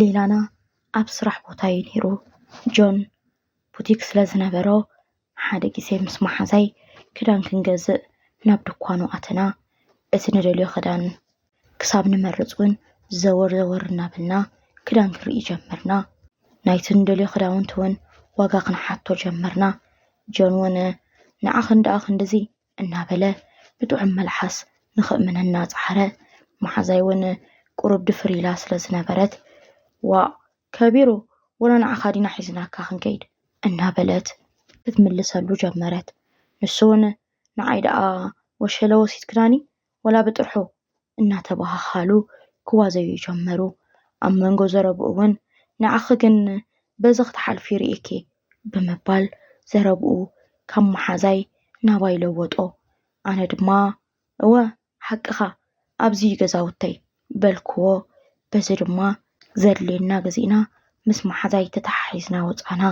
ሌላና ኣብ ስራሕ ቦታ እዩ ነይሩ። ጆን ቡቲክ ስለ ዝነበሮ ሓደ ግዜ ምስ መሓዛይ ክዳን ክንገዝእ ናብ ድኳኑ ኣተና። እቲ ንደልዮ ክዳን ክሳብ ንመርፅ እውን ዘወር ዘወር እናበልና ክዳን ክንርኢ ጀመርና። ናይቲ እንደልዮ ክዳውንቲ እውን ዋጋ ክንሓቶ ጀመርና። ጆን ወነ ንዓኽን ደኣ ክንድዚ እናበለ ብጥዑም መልሓስ ንኽእምነና ጸዓረ። መሓዛይ እውን ቁሩብ ድፍር ኢላ ስለ ዝነበረት ዋእ ከቢሩ ወላ ንዓኻ ዲና ሒዝናካ ክንከይድ እናበለት ክትምልሰሉ ጀመረት። ንሱ እውን ንዓይ ደኣ ወሸለ ወሲድክናኒ ወላ ብጥርሑ እናተበሃሃሉ ክዋዘዩ ጀመሩ። ኣብ መንጎ ዘረብኡ'ውን ንዓኺ ግን በዚ ክትሓልፊ ርእየኪ ብምባል ዘረብኡ ካብ መሓዛይ ናባይ ለወጦ። ኣነ ድማ እወ ሓቅኻ ኣብዚ'ዩ ገዛውተይ በልክዎ። በዚ ድማ ዘድልየና ግዚእና ምስ መሓዛይ ተተሓሒዝና ወፃእና።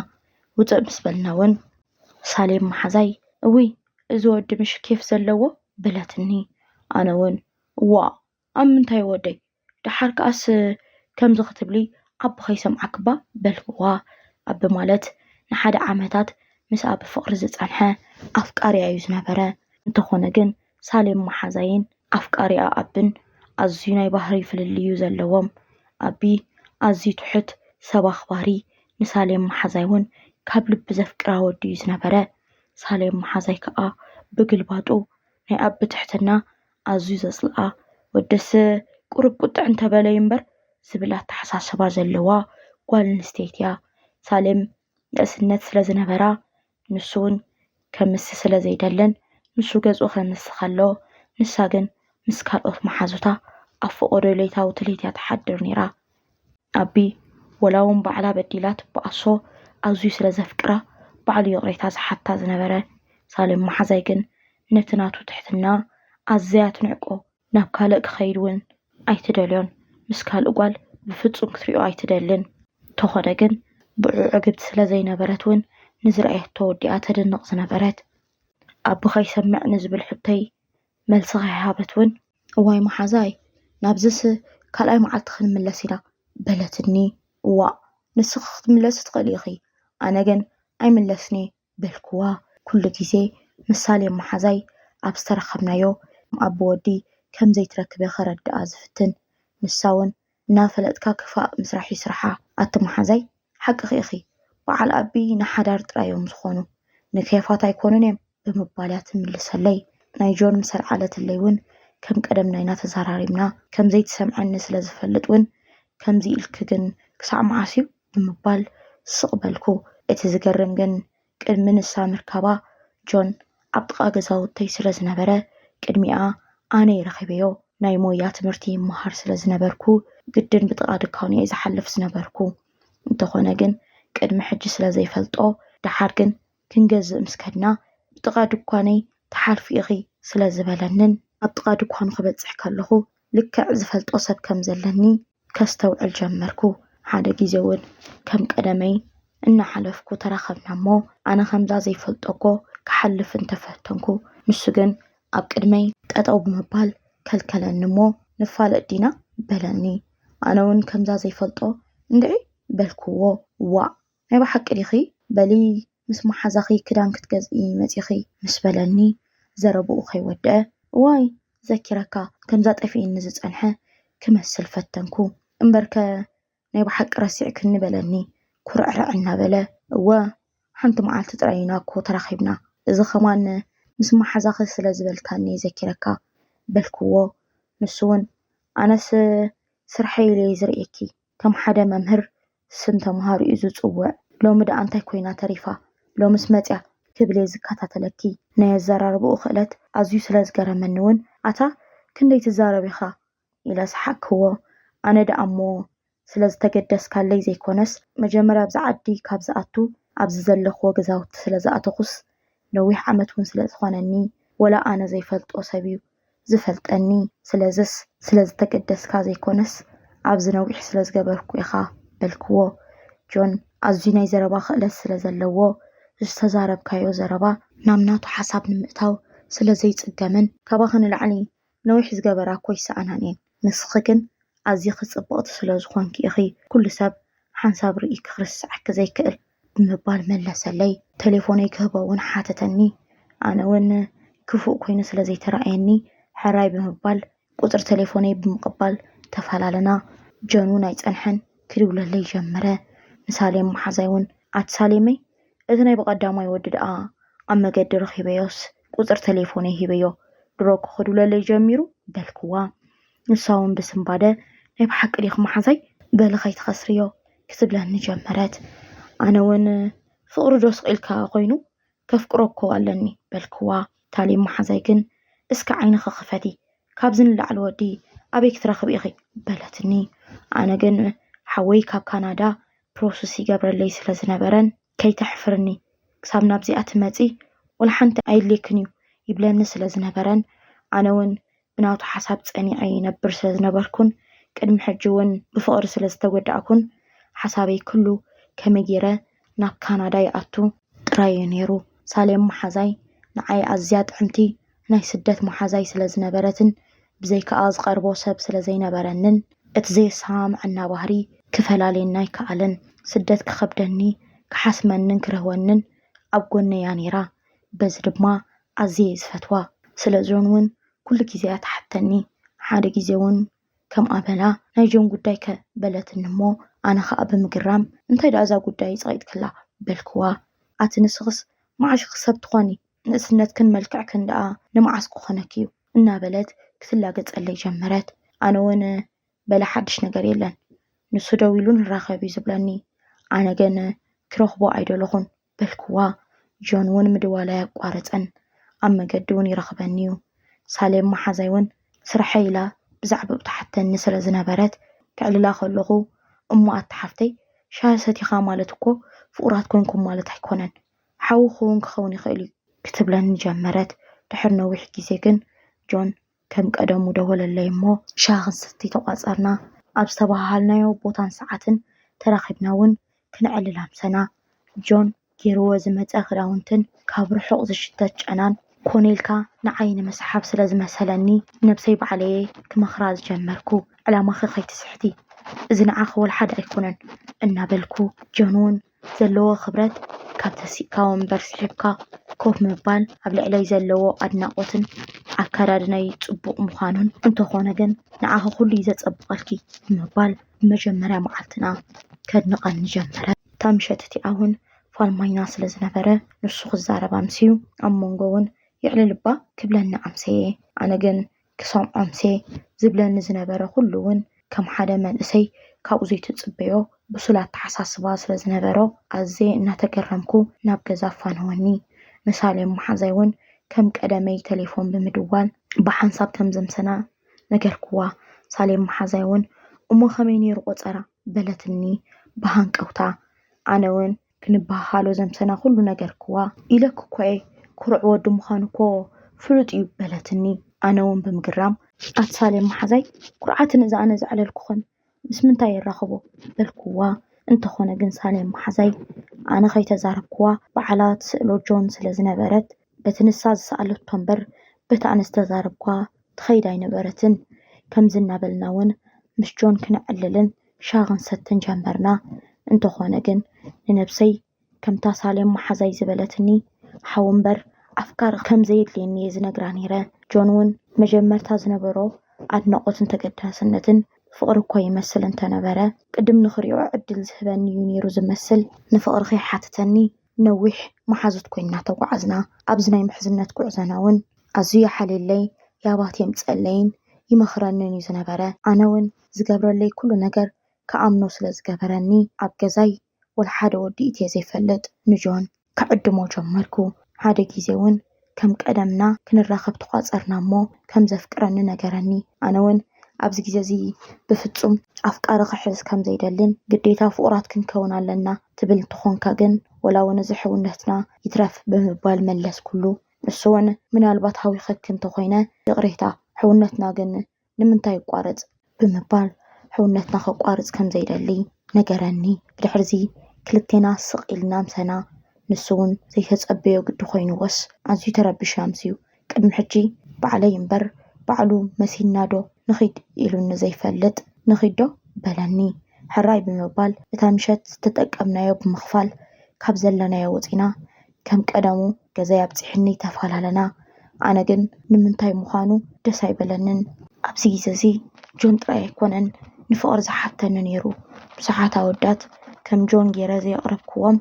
ውፅእ ምስ በልና እውን ሳሌም መሓዛይ እውይ እዚ ወዲ ምሽ ኬፍ ዘለዎ በለትኒ። ኣነ እውን እዋእ ኣብ ምንታይ ወደይ ደሓር ከኣስ ከምዚ ክትብሊ ኣቢ ከይሰምዓኪ እባ በልክዋ። ኣቢ ማለት ንሓደ ዓመታት ምስኣ ብፍቕሪ ዝፀንሐ ኣፍቃሪኣ እዩ ዝነበረ። እንተኾነ ግን ሳሌም መሓዛይን ኣፍቃሪኣ ኣቢን ኣዝዩ ናይ ባህሪ ፍልልይ'ዩ ዘለዎም። ኣቢ ኣዝዩ ትሑት፣ ሰብ ኣኽባሪ፣ ንሳሌም መሓዛይ'ውን ካብ ልቢ ዘፍቅራ ወዲ'ዩ ዝነበረ። ሳሌም መሓዛይ ከኣ ብግልባጡ ናይ ኣቢ ትሕትና ኣዝዩ ዘጽልኣ፣ ወደስ ቁሩብ ቁጥዕ እንተበለ'ዩ እምበር ዝብል ኣተሓሳስባ ዘለዋ ጓል ኣንስተይቲ'ያ። ሳሌም ንእስነት ስለ ዝነበራ ንሱ ውን ከምስ ስለ ዘይደልን ንሱ ገጹ ከምስ ከሎ ንሳ ግን ምስ ካልኦት መሓዙታ ኣብ ፎቖዶ ለይታዊ ትልሂት እያ ትሓድር ነይራ። ኣቢ ወላ ውን ባዕላ በዲላ ትበኣሶ ኣዝዩ ስለ ዘፍቅራ ባዕሉ ይቕሬታ ዝሓታ ዝነበረ ሳሌም መሓዛይ ግን ነቲ ናቱ ትሕትና ኣዘያ ትንዕቆ ናብ ካልእ ክኸይድ እውን ኣይትደልዮን፣ ምስ ካልእ ጓል ብፍጹም ክትሪኦ ኣይትደልን። እንተኾነ ግን ብዕኡ ዕግብቲ ስለ ዘይነበረት እውን ንዝረኣየቶ ወዲኣ ተድንቕ ዝነበረት። ኣቦ ከይሰምዕ ንዝብል ሕቶይ መልሲ ከይሃበት እውን። እዋይ መሓዛይ ናብዝስ ካልኣይ መዓልቲ ክንምለስ ኢና። በለትኒ። እዋእ ንስኺ ክትምለሲ ትኽእሊ ኢኺ፣ ኣነ ግን ኣይምለስን'የ በልክዋ ኩሉ ግዜ ምሳሌ መሓዛይ ኣብ ዝተራኸብናዮ ኣብ ብወዲ ከም ዘይትረክበ ከረድኣ ዝፍትን ንሳውን እናፈለጥካ ክፋእ ምስራሕ እዩ ስርሓ ኣቲ መሓዛይ ሓቅኺ ኢኺ በዓል ኣቢ ንሓዳር ጥራይ እዮም ዝኾኑ ንኬፋት ኣይኮኑን እዬም ብምባልያ ትምልሰለይ ናይ ጆን ምስ ኣልዓለትለይ ውን ከም ቀደም ናይና ተዛራሪብና ከም ዘይትሰምዐኒ ስለ ዝፈልጥ ውን ከምዚ ኢልኪ ግን ክሳዕ መዓስ እዩ ብምባል ስቕ በልኩ። እቲ ዝገርም ግን ቅድሚ ንሳ ምርካባ ጆን ኣብ ጥቓ ገዛውተይ ስለ ዝነበረ ቅድሚኣ ኣነ'የ ረኺበዮ። ናይ ሞያ ትምህርቲ ይመሃር ስለ ዝነበርኩ ግድን ብጥቓ ድኳኑ'የ ዝሓልፍ ዝነበርኩ። እንተኾነ ግን ቅድሚ ሕጂ ስለ ዘይፈልጦ ደሓር ግን ክንገዝእ ምስ ከድና ብጥቓ ድኳነይ ትሓልፊ ኢኺ ስለ ዝበለንን ኣብ ጥቓ ድኳኑ ክበጽሕ ከለኹ ልክዕ ዝፈልጦ ሰብ ከም ዘለኒ ከስተውዕል ጀመርኩ። ሓደ ግዜ'ውን ከም ቀደመይ እናሓለፍኩ ተራኸብና'ሞ፣ ኣነ ከምዛ ዘይፈልጦ'ኮ ክሓልፍ እንተ ፈተንኩ፣ ንሱ ግን ኣብ ቅድመይ ጠጠው ብምባል ከልከለኒ'ሞ፣ ንፋለጥ ዲና? በለኒ። ኣነ'ውን ከምዛ ዘይፈልጦ እንድዒ በልኩዎ። ዋእ! ናይ ብሓቂ ዲኺ? በሊ ምስ መሓዛኺ ክዳን ክትገዝኢ መጺኺ ምስ በለኒ ዘረብኡ ከይወድኣ እዋይ ዘኪረካ ከምዛ ጠፊእኒ ዝጸንሐ ክመስል ፈተንኩ። እምበርከ ናይ ብሓቂ ረሲዕክኒ በለኒ ኩርዕርዕ እናበለ። እወ ሓንቲ መዓልቲ ጥራይ ኢና እኮ ተራኺብና እዚ ከማን ምስ መሓዛኺ ስለ ዝበልካኒ ዘኪረካ በልክዎ ንሱውን ኣነስ ስርሐይ ኢለ'የ ዝርእየኪ ከም ሓደ መምህር ስም ተምሃሮኡ ዝጽውዕ፣ ሎሚ ደኣ እንታይ ኮይና ተሪፋ? ሎምስ መጺኣ? ክብል'የ ዝከታተለኪ። ናይ ኣዘራርባኡ ክእለት ኣዝዩ ስለ ዝገረመኒ'ውን፣ ኣታ ክንደይ ትዛረብ ኢኻ? ኢለ ሰሓቅክዎ። ኣነ ደኣ'ሞ ስለ ዝተገደስካለይ ዘይኮነስ፣ መጀመርያ ኣብዚ ዓዲ ካብ ዝኣቱ ኣብዚ ዘለኽዎ ገዛውቲ ስለ ዝኣተኹስ፣ ነዊሕ ዓመት'ውን ስለ ዝኾነኒ፣ ወላ ኣነ ዘይፈልጦ ሰብ'ዩ ዝፈልጠኒ ስለዝስ ስለዝተገደስካ ዘይኮነስ ኣብዚ ነዊሕ ስለዝገበርኩ ኢኻ በልክዎ። ጆን ኣዝዩ ናይ ዘረባ ክእለት ስለዘለዎ ዝተዛረብካዮ ዘረባ ናብ ናቱ ሓሳብ ንምእታው ስለዘይጽገምን። ካባኺ ንላዕሊ ነዊሕ ዝገበራ እኮ ኣይሰኣናን እየን ንስኺ ግን ኣዚኺ ጽብቕቲ ስለዝኾንኪ ኢኺ ኩሉ ሰብ ሓንሳብ ርኢኪ ክርስዓኪ ዘይክእል። ብምባል መለሰለይ። ተሌፎነይ ክህቦ እውን ሓተተኒ። ኣነ እውን ክፉእ ኮይኑ ስለ ዘይተራእየኒ ሕራይ ብምባል ቁጽሪ ተሌፎነይ ብምቕባል ተፈላለና። ጀኑን ኣይጸንሐን ክድውለለይ ጀመረ። ንሳሌም መሓዛይ እውን ኣቲ ሳሌመይ እቲ ናይ ብቐዳማይ ወዲ ደኣ ኣብ መገዲ ረኺበዮስ ቁጽሪ ተሌፎነይ ሂበዮ ድሮ እኮ ክድውለለይ ጀሚሩ በልክዋ። ንሳ እውን ብስንባደ ናይ ብሓቂ ዲኺ መሓዛይ በሊ ከይትኸስርዮ ክትብለኒ ጀመረት። ኣነ እውን ፍቕሪ ዶ ስቕ ኢልካ ኾይኑ ከፍቅሮ እኮ ኣለኒ በልክዋ። ታሊም መሓዛይ ግን እስከ ዓይንኺ ክፈቲ ካብዚ ንላዕሊ ወዲ ኣበይ ክትረኽቢ ኢኺ በለትኒ። ኣነ ግን ሓወይ ካብ ካናዳ ፕሮስስ ይገብረለይ ስለ ዝነበረን ከይተሕፍርኒ ክሳብ ናብዚኣ ትመፂ ወላ ሓንቲ ኣየድልየክን እዩ ይብለኒ ስለ ዝነበረን ኣነ እውን ብናቱ ሓሳብ ጸኒዐ ይነብር ስለ ዝነበርኩን ቅድሚ ሕጂ እውን ብፍቕሪ ስለ ዝተጎዳእኩን ሓሳበይ ኩሉ ከመይ ገይረ ናብ ካናዳ ይኣቱ ጥራይ እዩ ነይሩ። ሳሌም መሓዛይ ንዓይ ኣዝያ ጥዕምቲ ናይ ስደት መሓዛይ ስለ ዝነበረትን ብዘይካኣ ዝቐርቦ ሰብ ስለ ዘይነበረንን እቲ ዘየሰማምዐና ባህሪ ክፈላልየና ኣይከኣለን። ስደት ክኸብደኒ፣ ክሓስመንን ክርህወንን ኣብ ጎነይ'ያ ነይራ። በዚ ድማ ኣዝየ እየ ዝፈትዋ ስለ ጆን ውን ኩሉ ግዜ እያ ትሓተኒ ሓደ ግዜ ውን ከምኣ በላ ናይ ጆን ጉዳይ ከ በለትኒ እሞ ኣነ ከኣ ብምግራም እንታይ ደኣ እዛ ጉዳይ ጸቂጥክላ በልክዋ ኣቲ ንስክስ መዓሽኪ ሰብ ትኾኒ ንእስነትክን መልክዕክን ደኣ ንመዓስ ክኾነኪ እዩ እናበለት ክትላገጸለይ ጀመረት ኣነ ውን በለ ሓድሽ ነገር የለን ንሱ ደዊሉ ንራኸብ እዩ ዝብለኒ ኣነ ግን ክረኽቦ ኣይደለኹን በልክዋ። ጆን እውን ምድዋላይ ኣቋረጸን። ኣብ መገዲ እውን ይረኽበኒ እዩ። ሳሌም መሓዛይ እውን ስርሐይ ኢላ ብዛዕባኡ ትሓተኒ ስለ ዝነበረት፣ ከዕልላ ከለኹ፣ እሞ ኣታ ሓፍተይ፣ ሻሂ ሰቲኻ ማለት እኮ ፍቑራት ኰንኩም ማለት ኣይኰነን። ሓውኺ እውን ክኸውን ይኽእል እዩ። ክትብለኒ ጀመረት። ድሕሪ ነዊሕ ግዜ ግን ጆን ከም ቀደሙ ደወለለይ እሞ ሻሂ ክንሰቲ ተቋጸርና። ኣብ ዝተበሃሃልናዮ ቦታን ሰዓትን ተራኺብና ውን ክነዕልል ኣምሰና። ጆን ጌርዎ ዝመጸ ክዳውንትን ካብ ርሑቕ ዝሽተት ጨናን ኮኔልካ ንዓይ ንምስሓብ ስለ ዝመሰለኒ ነብሰይ ባዕለይ'የ ክመኽራ ዝጀመርኩ። ዕላማኺ ከይትስሕቲ እዚ ንዓኺ ወልሓደ ኣይኮነን እናበልኩ ጆን ውን ዘለዎ ክብረት ካብ ተሲእካ ወንበር ስሒብካ ኮፍ ምባል ኣብ ልዕለይ ዘለዎ ኣድናቖትን ኣከዳድናይ ጽቡቕ ምዃኑን እንተኾነ ግን ንዓኺ ኩሉ እዩ ዘጸብቐልኪ ብምባል መጀመርያ መዓልትና ከድንቐኒ ጀመረ። እታ ምሸት እቲኣ እውን ፋልማይና ስለ ዝነበረ ንሱ ክዛረብ ኣምስዩ ኣብ መንጎ እውን የዕልልባ ክብለኒ ኣምሰየ። ኣነ ግን ክሰምዖምሴ ዝብለኒ ዝነበረ ኩሉ እውን ከም ሓደ መንእሰይ ካብኡ ዘይትጽበዮ ብሱል ኣተሓሳስባ ስለ ዝነበሮ ኣዝየ እናተገረምኩ ናብ ገዛ ኣፋነወኒ። ንሳሌም መሓዛይ እውን ከም ቀደመይ ተሌፎን ብምድዋል ብሓንሳብ ከም ዘምሰና ነገርክዋ። ሳሌም መሓዛይ እውን እሞ ከመይ ነይሩ ቆጸራ? በለትኒ ብሃንቀውታ። ኣነ እውን። ክንበሃሃሎ ዘምሰና ዅሉ ነገርክዋ። ኢለኪ'ኮ'የ፣ ኵሩዕ ወዲ ምዃኑ'ኮ ፍሉጥ'ዩ፣ በለትኒ ኣነ'ውን ብምግራም። ኣቲ ሳሌም መሓዛይ፣ ኵርዓትን እዚ ኣነ ዘዕለልኩኽን ምስ ምንታይ የራኽቦ? በልክዋ። እንተዀነ ግን ሳሌም መሓዛይ፣ ኣነ ከይተዛረብክዋ ባዕላ ትስእሎ ጆን ስለ ዝነበረት። በቲ ንሳ ዝሰኣለቶ እምበር በቲ ኣነ ዝተዛረብኩዋ ትኸይድ ኣይነበረትን። ከምዚ እናበልና እውን ምስ ጆን ክነዕልልን ሻሂ ክንሰትን ጀመርና። እንተኾነ ግን ንነብሰይ ከምታ ሳሌም መሓዛይ ዝበለትኒ ሓው እምበር ኣፍቃሪ ከም ዘየድልየኒ እየ ዝነግራ ነይረ። ጆን እውን መጀመርታ ዝነበሮ ኣድናቖትን ተገዳስነትን ፍቕሪ እኮ ይመስል እንተነበረ፣ ቅድም ንኽሪኦ ዕድል ዝህበኒ እዩ ነይሩ ዝመስል። ንፍቕሪ ከይሓተተኒ ነዊሕ መሓዙት ኮይና ተጓዓዝና ኣብዚ ናይ ምሕዝነት ጉዕዘና ውን ኣዝዩ ይሓልየለይ ያባት የምጸለይን ይመኽረንን እዩ ዝነበረ ኣነ ውን ዝገብረለይ ኩሉ ነገር ክኣምኖ ስለ ዝገበረኒ ኣብ ገዛይ ወልሓደ ወዲ ኢትየ ዘይፈልጥ ንጆን ክዕድሞ ጀመርኩ ሓደ ግዜ ውን ከም ቀደምና ክንራኸብ ተቋጸርና እሞ ከም ዘፍቅረኒ ነገረኒ። ኣነ ውን ኣብዚ ግዜ እዚ ብፍጹም ኣፍቃሪ ክሕዝ ከም ዘይደልን ግዴታ ፍቑራት ክንከውን ኣለና ትብል እንተኾንካ ግን ወላ ውን እዚ ሕውነትና ይትረፍ ብምባል መለስኩሉ። ንሱ ውን ምናልባት ሃዊኸኪ እንተኾይነ ይቕሬታ ሕውነትና ግን ንምንታይ ይቋረጽ? ብምባል ሕውነትና ከቋርጽ ከም ዘይደሊ ነገረኒ። ብድሕርዚ ክልቴና ስቕ ኢልና ኣምሰና፣ ንሱ'ውን ዘይተጸበዮ ግዲ ኮይንዎስ ኣዝዩ ተረቢሹ ኣምስዩ። ቅድሚ ሕጂ ባዕለይ እምበር ባዕሉ መሲልናዶ ንኺድ ኢሉኒ ዘይፈልጥ፣ ንኺድዶ? በለኒ። ሕራይ ብምባል እታ ምሸት ዝተጠቀምናዮ ብምኽፋል ካብ ዘለናዮ ወጺና ከም ቀደሙ ገዛይ ኣብጺሑኒ ተፋላለና። ኣነ ግን ንምንታይ ምዃኑ ደስ ኣይበለንን። ኣብዚ ግዜ እዚ ጆን ጥራይ ኣይኮነን ንፍቕሪ ዝሓተኒ ነይሩ። ብዙሓት ኣወዳት ከም ጆን ገይረ ዘየቕረብክዎም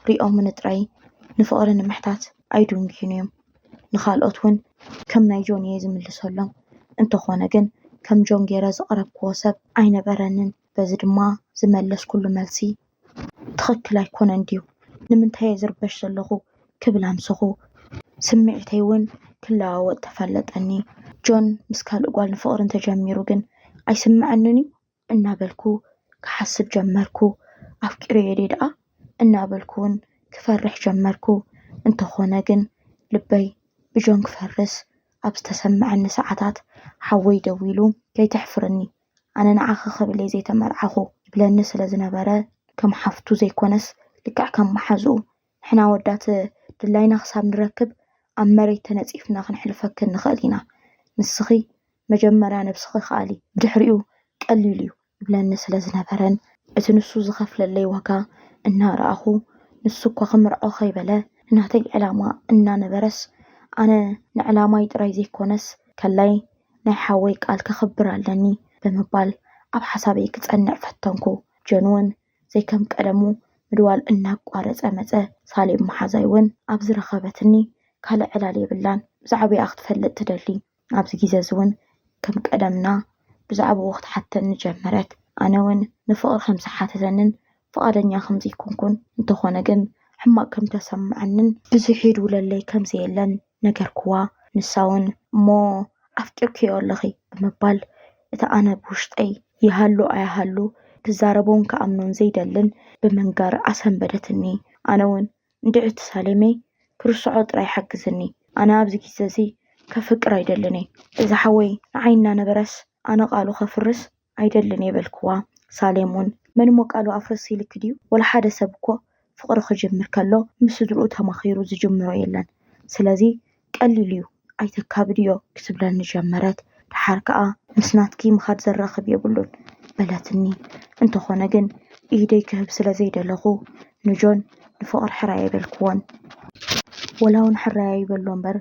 ርእዮምኒ ጥራይ ንፍቕሪ ንምሕታት ኣይድንጉዩን እዮም። ንኻልኦት እውን ከም ናይ ጆን እየ ዝምልሰሎም። እንተኾነ ግን ከም ጆን ገይረ ዘቕረብክዎ ሰብ ኣይነበረንን። በዚ ድማ ዝመለስኩሉ መልሲ ትኽክል ኣይኮነን ድዩ? ንምንታይ እየ ዝርበሽ ዘለኹ? ክብል ኣምሰኹ። ስምዒተይ እውን ክለዋወጥ ተፈለጠኒ። ጆን ምስ ካልእ ጓል ንፍቕሪ እንተጀሚሩ ግን ኣይስምዐንን እዩ? እናበልኩ ክሓስብ ጀመርኩ። ኣፍቂረዮ ድየ ደኣ? እናበልኩ እውን ክፈርሕ ጀመርኩ። እንተኾነ ግን ልበይ ብጆን ክፈርስ ኣብ ዝተሰመዐኒ ሰዓታት ሓወይ ደዊሉ ከይተሕፍርኒ ኣነ ንዓኺ ክብል እየ ዘይተመርዓኹ ይብለኒ ስለ ዝነበረ፣ ከም ሓፍቱ ዘይኰነስ ልክዕ ከም መሓዝኡ፣ ንሕና ኣወዳት ድላይና ክሳብ ንረክብ ኣብ መሬት ተነጺፍና ክንሕልፈኪ ንኽእል ኢና። ንስኺ መጀመርያ ነብስኺ ከኣሊ፣ ብድሕሪኡ ቀሊል እዩ ይብለኒ ስለ ዝነበረን እቲ ንሱ ዝኸፍለለይ ዋጋ እናረኣኹ፣ ንሱ እኳ ክምርዖ ከይበለ ናተይ ዕላማ እናነበረስ፣ ኣነ ንዕላማይ ጥራይ ዘይኰነስ ከላይ ናይ ሓወይ ቃል ከኽብር ኣለኒ ብምባል ኣብ ሓሳበይ ክጸንዕ ፈተንኩ። ጆን'ውን ዘይከም ቀደሙ ምድዋል እናቋረጸ መጸ። ሳሌም መሓዛይ'ውን ኣብ ዝረኸበትኒ ካልእ ዕላል የብላን፣ ብዛዕብኣ ክትፈልጥ ትደሊ። ኣብዚ ግዜ'ዚ'ውን ከም ቀደምና ብዛዕብኡ ክትሓተኒ ጀመረት። ኣነ'ውን ንፍቕሪ ከም ዝሓተተንን ፍቓደኛ ከም ዘይኰንኩን፣ እንተዀነ ግን ሕማቕ ከም እተሰምዓንን ብዙሕ ይድውለለይ ከም ዘየለን ነገርክዋ። ንሳውን፣ እሞ ኣፍቂርክዮ ኣለኺ? ብምባል፣ እቲ ኣነ ብውሽጠይ ይሃሉ ኣይሃሉ ክዛረቦን ክኣምኖን ዘይደልን ብምንጋር ኣሰንበደትኒ። ኣነውን፣ እንድዒ እቲ ሳሌመይ ክርስዖ ጥራይ ሓግዝኒ። ኣነ ኣብዚ ግዜ'ዚ ከፍቅር ኣይደልን እየ። እዚ ሓወይ ንዓይ እናነበረስ ኣነ ቃሉ ከፍርስ ኣይደልን እየ በልክዋ። ሳሌም እውን መንሞ ቃሉ ኣፍርስ ኢልኪ ድዩ? ወላ ሓደ ሰብ እኮ ፍቕሪ ክጅምር ከሎ ምስ ስድርኡ ተማኺሩ ዝጅምሮ የለን። ስለዚ ቀሊል እዩ ኣይተካብድዮ ክትብለኒ ጀመረት። ደሓር ከኣ ምስ ናትኪ ምኻድ ዘራኽብ የብሉን በለትኒ። እንተኾነ ግን ኢደይ ክህብ ስለ ዘይደለኹ ንጆን ንፍቕሪ ሕራይ ኣይበልክዎን። ወላውን ሕራይ ኣይበሎ እምበር፣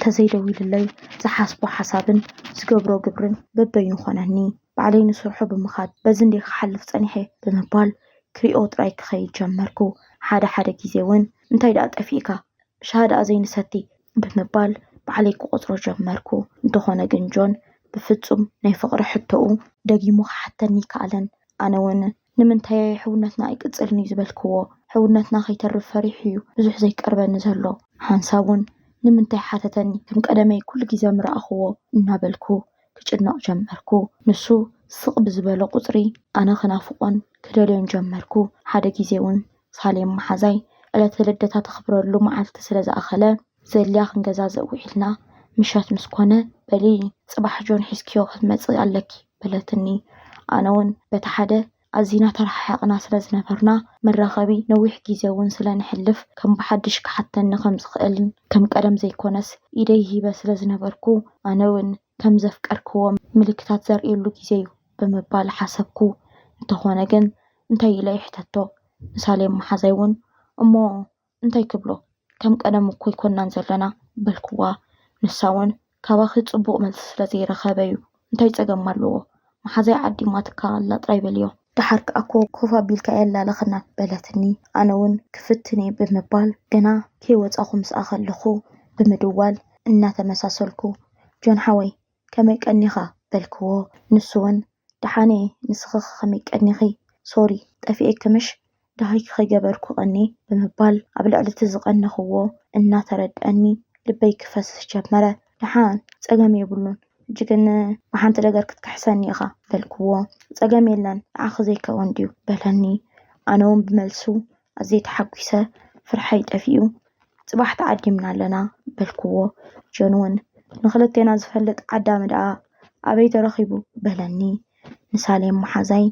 ተዘይደዊሉለይ ዝሓስቦ ሓሳብን ዝገብሮ ግብርን በበይኑ ኮነኒ። ባዕለይ ንስርሑ ብምኻድ በዚ እንድየ ክሓልፍ ጸኒሐ ብምባል ክሪኦ ጥራይ ክኸይድ ጀመርኩ። ሓደ ሓደ ግዜውን እንታይ ደኣ ጠፊእካ ሻሂ ደኣ ዘይንሰቲ ብምባል ባዕለይ ክቖጽሮ ጀመርኩ። እንተኾነ ግን ጆን ብፍጹም ናይ ፍቕሪ ሕቶኡ ደጊሙ ክሓተኒ ኣይከኣለን። ኣነውን ንምንታይ ሕውነትና ኣይቅጽልን እዩ ዝበልክዎ? ሕውነትና ከይተርፍ ፈሪሑ እዩ ብዙሕ ዘይቀርበኒ ዘሎ። ሓንሳብ'ውን ንምንታይ ሓተተኒ፣ ከም ቀደመይ ኩሉ ግዜ ምረኣኽዎ እናበልኩ ክጭነቕ ጀመርኩ። ንሱ ስቕ ብዝበሎ ቁጽሪ ኣነ ክናፍቖን ክደልዮን ጀመርኩ። ሓደ ግዜ'ውን ሳሌም መሓዛይ ዕለተ ልደታ ተኽብረሉ መዓልቲ ስለ ዝኣኸለ ዘልያ ክንገዛዘእ ውዒልና ምሸት ምስ ኮነ በሊ ጽባሕ ጆን ሒዝክዮ ክትመጺ ኣለኪ፣ በለትኒ። ኣነ'ውን በቲ ሓደ ኣዚና ተረሓሒቕና ስለ ዝነበርና፣ መራኸቢ ነዊሕ ግዜ'ውን ስለ ነሕልፍ ከም ብሓድሽ ክሓተኒ ከም ዝኽእልን ከም ቀደም ዘይኰነስ ኢደይ ሂበ ስለ ዝነበርኩ ኣነ'ውን ከም ዘፍቀርክዎ ምልክታት ዘርእየሉ ግዜ'ዩ ብምባል ሓሰብኩ። እንተዀነ ግን እንታይ ኢለ ይሕተቶ ንሳሌም መሓዛይ'ውን እሞ እንታይ ክብሎ ከም ቀደሙ እኮ ኣይኮናን ዘለና በልክዋ ንሳ ውን ካባኺ ጽቡቕ መልሲ ስለ ዘይረኸበ'ዩ እንታይ ጸገም ኣለዎ መሓዛይ ዓዲማትካ ኣላ ጥራይ በልዮ። ደሓር ከኣ እኮ ኮፍ ኣቢልካ ኣየላለኸና በለትኒ ኣነ ውን ክፍትን'የ ብምባል ገና ከይወጻኹ ምስኣ ከለኹ ብምድዋል እናተመሳሰልኩ ጆን ሓወይ ከመይ ቀኒኻ? በልክዎ። ንሱውን ደሓን'የ፣ ንስኺኸ ከመይ ቀኒኺ? ሶሪ ጠፊኤኪ ምሽ? ደሃይኪ ከይገበርኩ ቀንየ ብምባል ኣብ ልዕሊ'ቲ ዝቐነኽዎ እናተረድኣኒ ልበይ ክፈስስ ጀመረ። ደሓን ጸገም የብሉን፣ ሕጂ ግን ብሓንቲ ነገር ክትክሕሰኒ ኢኻ። በልክዎ። ጸገም የለን፣ ንዓኺ ዘይከውን ድዩ? በለኒ። ኣነውን ብመልሱ ኣዝየ ተሓጒሰ ፍርሐይ ጠፊኡ ፅባሕ ተዓዲምና ኣለና በልክዎ ጆን እውን ንክልቴና ዝፈልጥ ዓዳሚ ደኣ ኣበይ ተረኺቡ በለኒ ንሳሌም መሓዛይ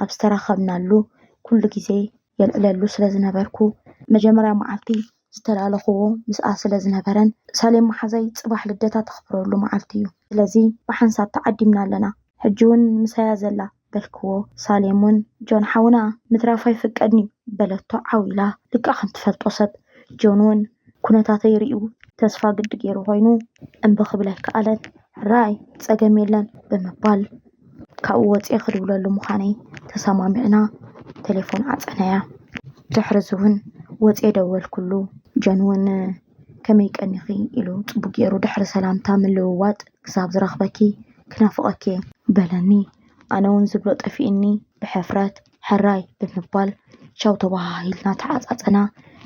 ኣብ ዝተራኸብናሉ ኩሉ ግዜ የልዕለሉ ስለ ዝነበርኩ መጀመርያ መዓልቲ ዝተላለኽዎ ምስኣ ስለ ዝነበረን ሳሌም መሓዛይ ፅባሕ ልደታ ተኽብረሉ መዓልቲ እዩ ስለዚ ብሓንሳብ ተዓዲምና ኣለና ሕጂ እውን ምሳያ ዘላ በልክዎ ሳሌም ውን ጆን ሓውና ምትራፍ ኣይፍቀድን'ዩ በለቶ ዓው ኢላ ልክዕ ከም ትፈልጦ ሰብ ጆን ውን ኩነታተይ ሪኡ ተስፋ ግዲ ጌሩ ኮይኑ እምቢ ክብል ኣይከኣለን ሕራይ ጸገም የለን ብምባል ካብኡ ወጽየ ክድውለሉ ምዃነይ ተሰማሚዕና ቴሌፎን ዓጸናያ ድሕርዚ ውን ወጽየ ደወልኩሉ ጆን ውን ከመይ ቀኒኺ ኢሉ ጽቡቕ ገይሩ ድሕሪ ሰላምታ ምልውዋጥ ክሳብ ዝረኽበኪ ክናፍቐኪ እየ በለኒ። ኣነ ውን ዝብሎ ጠፊኡኒ ብሕፍረት ሕራይ ብምባል ቻው ተበሃሂልና ተዓጻጸና።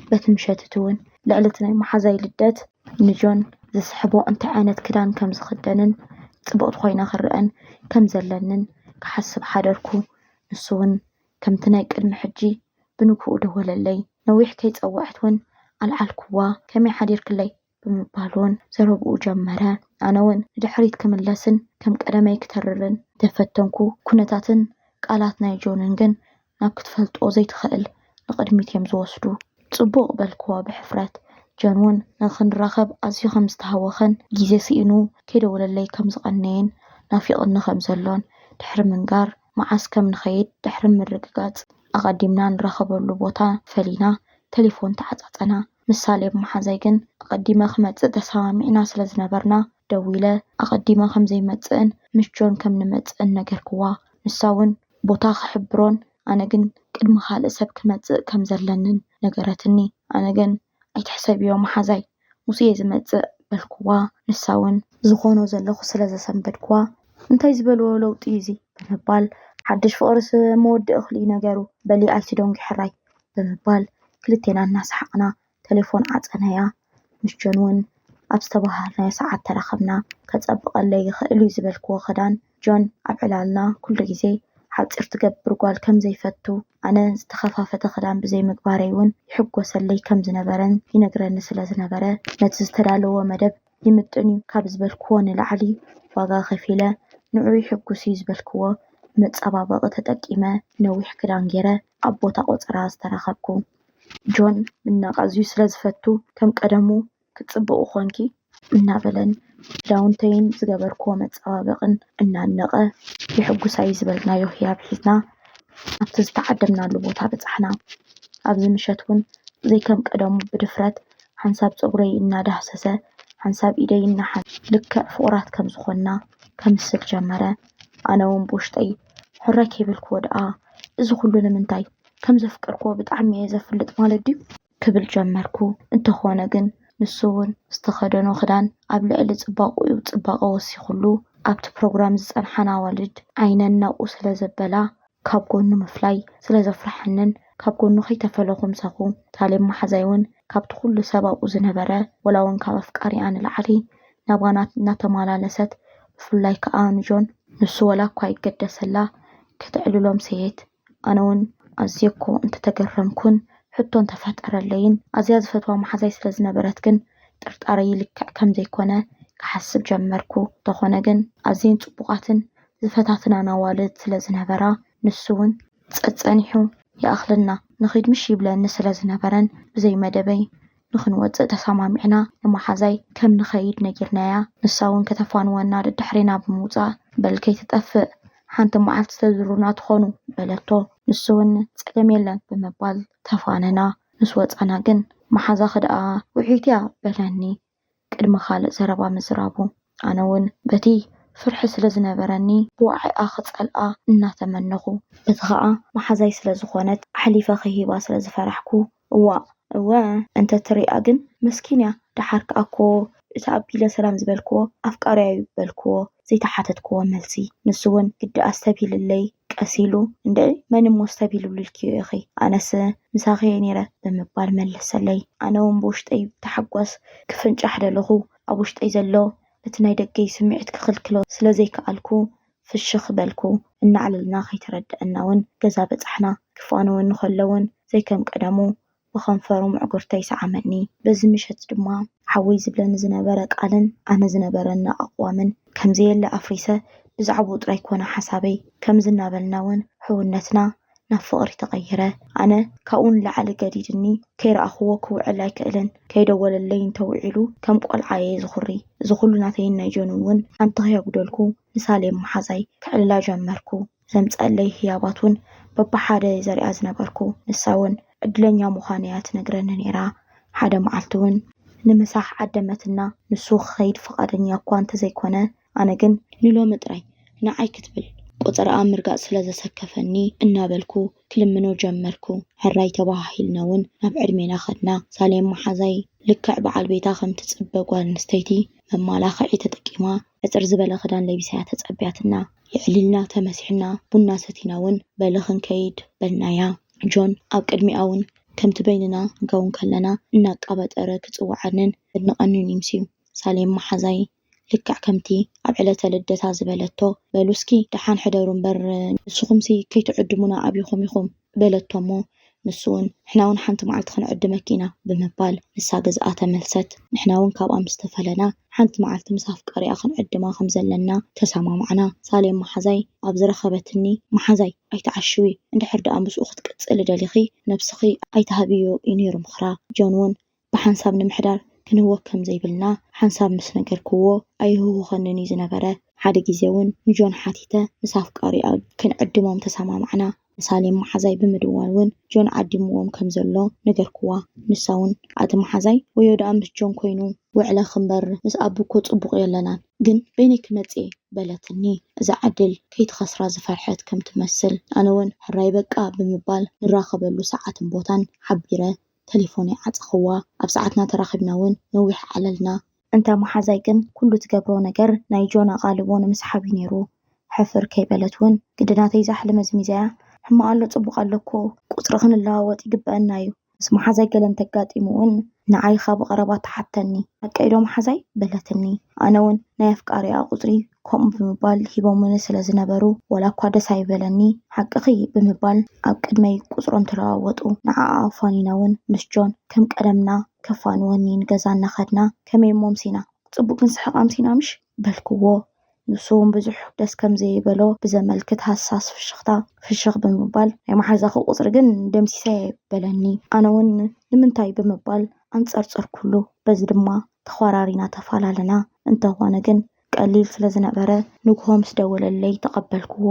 በቲ ምሸት'ቲ ውን ልዕሊ እቲ ናይ መሓዛይ ልደት ንጆን ዝስሕቦ እንታይ ዓይነት ክዳን ከም ዝኽደንን ጽብቕቲ ኮይነ ክረኣን ከም ዘለንን ክሓስብ ሓደርኩ። ንሱ ውን ከምቲ ናይ ቅድሚ ሕጂ ብንግህኡ ደወለለይ። ነዊሕ ከይጸወዐት ውን ኣልዓልኩዋ። ከመይ ሓዲርክለይ? ብምባል ውን ዘረብኡ ጀመረ። ኣነ ውን ንድሕሪት ክምለስን ከም ቀደመይ ክተርርን እንተ ፈተንኩ፣ ኩነታትን ቃላት ናይ ጆንን ግን ናብ ክትፈልጦ ዘይትኸእል ንቕድሚት ኢዮም ዝወስዱ። ጽቡቕ በልኩዋ ብሕፍረት። ጆን ውን ንኽንራኸብ ኣዝዩ ከም ዝተሃወኸን ግዜ ስኢኑ ከይደወለለይ ከም ዝቐነየን ናፊቕኒ ከም ዘሎን ድሕሪ ምንጋር፣ መዓስ ከም ንኸይድ ድሕሪ ምርግጋጽ፣ ኣቐዲምና ንራኸበሉ ቦታ ፈሊና ተሌፎን ተዓጻጸና። ምስ ሳሌም መሓዛይ ግን ኣቐዲመ ክመጽእ ተሰማሚዕና ስለ ዝነበርና፣ ደዊለ ኣቐዲመ ከም ዘይመጽእን ምስ ጆን ከም ንመጽእን ነገርክዋ። ንሳ'ውን ቦታ ክሕብሮን ኣነ ግን ቅድሚ ካልእ ሰብ ክመጽእ ከም ዘለንን ነገረትኒ። ኣነ ግን ኣይትሕሰብዮ መሓዛይ ሙሴ'የ ዝመጽእ በልኩዋ፣ ንሳ'ውን። ዝኾኖ ዘለኹ ስለ ዘሰንበድኩዋ፣ እንታይ ዝበልዎ ለውጢ'ዩ'ዚ? ብምባል። ሓድሽ ፍቕርስ መወዲ እኽሊ'ዩ ነገሩ፣ በሊ ኣይትደንጒ ሕራይ። ብምባል ክልቴና እናሰሓቕና ተሌፎን ዓጸናያ። ምስ ጆን'ውን ኣብ ዝተበሃሃልናዮ ሰዓት ተራኸብና። ከጸብቐለይ ይኽእል'ዩ ዝበልክዎ ክዳን። ጆን ኣብ ዕላልና ኩሉ ግዜ ሓጺር ትገብር ጓል ከም ዘይፈቱ፣ ኣነ ዝተኸፋፈተ ክዳን ብዘይምግባረይ'ውን ይሕጎሰለይ ከም ዝነበረን ይነግረኒ ስለ ዝነበረ፣ ነቲ ዝተዳለዎ መደብ ይምጥን'ዩ ካብ ዝበልክዎ ንላዕሊ ዋጋ ከፊለ፣ ንዕኡ ይሕጉስ'ዩ ዝበልክዎ መጸባበቒ ተጠቂመ ነዊሕ ክዳን ገይረ ኣብ ቦታ ቆጸራ ዝተረኸብኩ። ጆን ምድናቕ ኣዝዩ ስለ ዝፈቱ፣ ከም ቀደሙ ክትጽብቑ ኾንኪ እናበለን ክዳውንተይን ዝገበርክዎ መጸባበቕን እናድነቐ የሕጉሳ'ዩ ዝበልናዮ ህያብ ሒዝና ኣብቲ ዝተዓደምናሉ ቦታ በጻሕና። ኣብዚ ምሸት'ውን ዘይከም ቀደሙ ብድፍረት ሓንሳብ ጸጉረይ እናዳህሰሰ ሓንሳብ ኢደይ እናሓንበበ ልክዕ ፍቑራት ከም ዝኾንና ከምስል ጀመረ። ኣነ'ውን ብውሽጠይ ሕራይ ከይበልክዎ ደኣ እዚ ኹሉ ንምንታይ? ከም ዘፍቀርክዎ ብጣዕሚ'የ ዘፍልጥ ማለት ድዩ? ክብል ጀመርኩ። እንተኾነ ግን ንሱ ውን ዝተኸደኖ ክዳን ኣብ ልዕሊ ጽባቕኡ ጽባቐ ወሲኹሉ፣ ኣብቲ ፕሮግራም ዝጸንሓን ኣዋልድ ዓይነን ናብኡ ስለ ዘበላ ካብ ጎኑ ምፍላይ ስለ ዘፍረሓንን ካብ ጎኑ ከይተፈለኹ ምሳኹ። ታሌብ መሓዛይ ውን ካብቲ ኩሉ ሰብ ኣብኡ ዝነበረ ወላ ውን ካብ ኣፍቃሪኣ ንላዕሊ ናባና እናተማላለሰት ብፍላይ ከኣ ንጆን፣ ንሱ ወላ እኳ ይገደሰላ ከተዕልሎም ሰየት፣ ኣነ ውን ኣዝየ እኮ እንተተገረምኩን ሕቶ እንተፈጠረለይን ኣዝያ ዝፈትዋ መሓዛይ ስለ ዝነበረት ግን ጥርጣረይ ልክዕ ከም ዘይኮነ ክሓስብ ጀመርኩ። እንተኾነ ግን ኣዝየን ጽቡቓትን ዝፈታትናን ኣዋልድ ስለ ዝነበራ ንሱ ውን ጸጸኒሑ ይኣኽለና ንኺድ ምሽ ይብለኒ ስለ ዝነበረን ብዘይ መደበይ ንኽንወጽእ ተሰማሚዕና ንመሓዛይ ከም ንኸይድ ነጊርናያ። ንሳ'ውን ከተፋንወና ደድሕሬና ብምውጻእ በል ከይትጠፍእ ሓንቲ መዓልቲ ተድሩና ትኾኑ በለቶ። ንሱ'ውን ጸገም የለን ብምባል ተፋነና። ምስ ወጻና ግን መሓዛኺ ደኣ ውዕኢት'ያ በለኒ ቅድሚ ካልእ ዘረባ ምዝራቡ። ኣነ'ውን በቲ ፍርሒ ስለ ዝነበረኒ ብዋዒኣ ክጸልኣ እናተመነኹ፣ በቲ ኸኣ መሓዛይ ስለ ዝኾነት ኣሕሊፈ ክህባ ስለ ዝፈራሕኩ እዋእ እወ እንተ ትሪኣ ግን መስኪን እያ ደሓር ከኣ እኮ እቲ ኣቢለ ሰላም ዝበልክዎ ኣፍቃርያ እዩ በልክዎ ዘይተሓተትክዎ መልሲ ንሱ ውን ግዲ ኣስተብሂልለይ ቀስ ኢሉ እንድዒ መን እሞ ኣስተብሂሉልኪዮ ኢኺ ኣነስ ምሳኺ እየ ኔረ ብምባል መለሰለይ ኣነ ውን ብውሽጠይ ብታሕጓስ ክፍንጫሕ ደለኹ ኣብ ውሽጠይ ዘሎ እቲ ናይ ደገይ ስምዒት ክኽልክሎ ስለ ዘይከኣልኩ ፍሽኽ በልኩ። እናዕለልና ከይተረደኣና'ውን ገዛ በጻሕና። ክፋነወኒ ከሎ'ውን ዘይከም ቀደሙ ብኸንፈሩ ምዕጉርተይ ሰዓመኒ። በዚ ምሸት ድማ። ሓወይ ዝብለኒ ዝነበረ ቃልን ኣነ ዝነበረኒ ኣቕዋምን ከም ዘየለ ኣፍሪሰ ብዛዕብኡ ጥራይ ኮነ ሓሳበይ። ከምዚ እናበልና'ውን ሕውነትና። ናብ ፍቕሪ ተቐይረ። ኣነ ካብኡ ንላዕሊ ገዲድኒ፣ ከይረኣኹዎ ክውዕል ኣይክእልን፣ ከይደወለለይ እንተውዒሉ ከም ቆልዓ እየ ዝኹሪ። እዚ ኩሉ ናተይን ናይ ጆንን እውን ሓንቲ ከየጉደልኩ ንሳሌም መሓዛይ ከዕልላ ጀመርኩ። ዘምጸኣለይ ህያባት እውን በብሓደ እየ ዘሪኣ ዝነበርኩ። ንሳ እውን ዕድለኛ ምዃነይ እያ ትነግረኒ ነይራ። ሓደ መዓልቲ እውን። ንምሳሕ ዓደመትና፣ ንሱ ክኸይድ ፍቓደኛ እኳ እንተዘይኮነ ኣነ ግን ንሎሚ ጥራይ ንዓይ ክትብል ቆጸራኣ ምርጋጽ ስለ ዘሰከፈኒ እናበልኩ ክልምኖ ጀመርኩ። ሕራይ ተበሃሂልና ውን ናብ ዕድሜና ከድና። ሳሌም መሓዛይ ልክዕ በዓል ቤታ ከም ትጽበ ጓል ኣንስተይቲ መማላኽዒ ተጠቂማ ሕጽር ዝበለ ክዳን ለቢሳ'ያ ተጸብያትና። የዕሊልና ተመሲሕና ቡና ሰቲና ውን በሊ ክንከይድ በልናያ። ጆን ኣብ ቅድሚኣ ውን ከምቲ በይንና ጋውን ከለና እናቃበጠረ ክጽውዓንን ከድንቐንን'ዩ ምስዩ። ሳሌም መሓዛይ ልክዕ ከምቲ ኣብ ዕለተ ልደታ ዝበለቶ፣ በሉስኪ ደሓን ሕደሩ እምበር ንስኹምሲ ከይትዕድሙና ኣብኹም ኢኹም በለቶ'ሞ ንሱ'ውን ንሕና'ውን ሓንቲ መዓልቲ ክንዕድመኪ ኢና ብምባል ንሳ ገዝኣ ተመልሰት። ንሕና'ውን ካብኣ ምስ ተፈለና ሓንቲ መዓልቲ ምስ ኣፍቃሪኣ ክንዕድማ ከም ዘለና ተሰማማዕና። ሳሌም መሓዛይ ኣብ ዝረኸበትኒ መሓዛይ ኣይትዓሽዊ፣ እንድሕር ደኣ ምስኡ ክትቅጽሊ ደሊኺ ነብስኺ ኣይትሃብዮ እዩ ነይሩ ምኽራ። ጆን'ውን ብሓንሳብ ንምሕዳር ክንህወክ ከም ዘይብልና ሓንሳብ ምስ ነገርክዎ ኣይህውኸንን'ዩ ዝነበረ። ሓደ ግዜ'ውን ንጆን ሓቲተ ምስ ኣፍቃሪኣ ክንዕድሞም ተሰማማዕና። ንሳሌም መሓዛይ ብምድዋል'ውን ጆን ዓዲምዎም ከም ዘሎ ነገርክዋ። ንሳ'ውን ኣቲ መሓዛይ ወዮ ደኣ ምስ ጆን ኮይኑ! ውዕለ ክንበር ምስ ኣቡ'ኮ ጽቡቕ የለናን፣ ግን በይነይ ክመጽእ'የ በለትኒ። እዛ ዕድል ከይትኸስራ ዝፈርሐት ከም ትመስል ኣነ'ውን ሕራይ በቃ ብምባል ንራኸበሉ ሰዓትን ቦታን ሓቢረ ተሌፎነይ ዓጸኽዋ፣ ኣብ ሰዓትና ተራኺብና ውን ነዊሕ ዓለልና። እንተ መሓዛይ ግን ኩሉ ትገብሮ ነገር ናይ ጆን ኣቓልቦ ንምስሓብ እዩ ነይሩ። ሕፍር ከይበለት ውን ግዲ ናተይ ዛሕሊ መዝሚዛያ፣ ሕማቕ ኣሎ ጽቡቕ ኣሎ እኮ፣ ቁጽሪ ክንለዋወጥ ይግበኣና እዩ። ምስ መሓዛይ ገለ እንተጋጢሙ ውን ንዓይ ኻብ ቐረባ ትሓተኒ። ሓቀይ ዶ መሓዛይ? በለትኒ። ኣነ ውን ናይ ኣፍቃሪኣ ቁጽሪ ከምኡ ብምባል ሂቦሙኒ ስለ ዝነበሩ፣ ዋላ እኳ ደስ ኣይበለኒ፣ ሓቅኺ ብምባል ኣብ ቅድመይ ቁጽሮም ተለዋወጡ። ንዓኣ ኣፋኒና ውን ምስ ጆን ከም ቀደምና ከፋንወኒ ንገዛ እናኸድና፣ ከመይ እሞ ኣምሲና? ጽቡቕ ክንስሕቕ ኣምሲና ምሽ? በልክዎ። ንሱ ውን ብዙሕ ደስ ከም ዘይበሎ ብዘመልክት ሃሳስ ፍሽኽታ ፍሽኽ ብምባል፣ ናይ መሓዛኺ ቁጽሪ ግን ደምሲሰ'የ በለኒ። ኣነ ውን ንምንታይ ብምባል ኣንጸርጸርኩሉ። በዚ ድማ ተዃራሪና ተፈላለና። እንተኾነ ግን ቀሊል ስለ ዝነበረ ንግሆ ምስ ደወለለይ ተቐበልክዎ።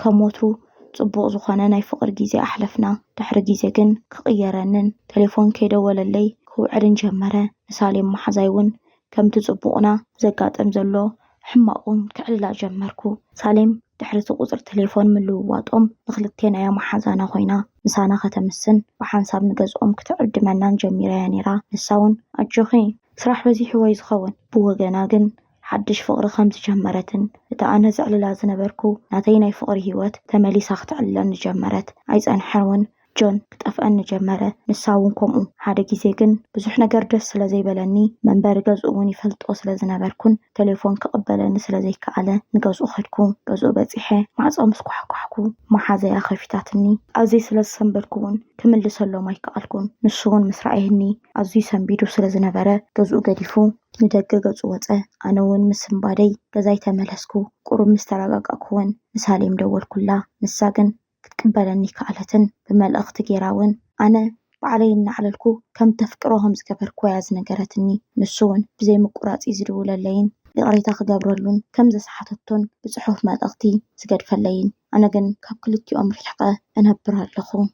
ከም ወትሩ ጽቡቕ ዝኾነ ናይ ፍቕሪ ግዜ ኣሕለፍና። ድሕሪ ግዜ ግን ክቕየረንን ተሌፎን ከይደወለለይ ክውዕልን ጀመረ። ንሳሌም መሓዛይ ውን ከምቲ ጽቡቕና ዘጋጥም ዘሎ ሕማቕ ውን ከዕልላ ጀመርኩ። ሳሌም ድሕሪ እቲ ቁጽሪ ተሌፎን ምልውዋጦም ንኽልቴና'ያ መሓዛና ኮይና ምሳና ከተምስን ብሓንሳብ ንገዝኦም ክትዕድመናን ጀሚራ'ያ ኔራ። ንሳ ውን ኣጆኺ! ስራሕ በዚሕዎ'ዩ ዝኸውን። ብወገና ግን ሓድሽ ፍቕሪ ከም ዝጀመረትን እታ ኣነ ዘዕልላ ዝነበርኩ ናተይ ናይ ፍቕሪ ህይወት ተመሊሳ ክተዕልለኒ ጀመረት። ኣይጸንሐን'ውን ጆን ክጠፍኣኒ ጀመረ፣ ንሳ'ውን ከምኡ። ሓደ ግዜ ግን ብዙሕ ነገር ደስ ስለ ዘይበለኒ፣ መንበሪ ገዝኡ'ውን ይፈልጦ ስለ ዝነበርኩን ተሌፎን ክቕበለኒ ስለ ዘይከኣለ ንገዝኡ ከድኩ። ገዝኡ በጺሐ ማዕጾ ምስ ኳሕኳሕኩ መሓዘያ ከፊታትኒ። ኣብዘይ ስለ ዝሰንበድኩ'ውን ክምልሰሎም ኣይከኣልኩን። ንሱ'ውን ምስ ረኣየኒ ኣዝዩ ሰንቢዱ ስለ ዝነበረ ገዝኡ ገዲፉ ንደገ ገጹ ወጸ። ኣነ ውን ምስ ስንባደይ ገዛይ ተመለስኩ። ቁሩብ ምስ ተረጋጋእኩ ውን ንሳሌም ደወልኩላ። ንሳ ግን ክትቅበለኒ ኣይከኣለትን። ብመልእኽቲ ጌራ ውን ኣነ ባዕለይ እናዕለልኩ ከም እተፍቅሮ ከም ዝገበርኩዋ'ያ ዝነገረትኒ። ንሱ ውን ብዘይ ምቁራጽ'ዩ ዝድውለለይን ይቕሬታ ክገብረሉን ከም ዘስሓተቶን ብጽሑፍ መልእኽቲ ዝገድፈለይን። ኣነ ግን ካብ ክልቲኦም ሪሕቐ እነብር ኣለኹ።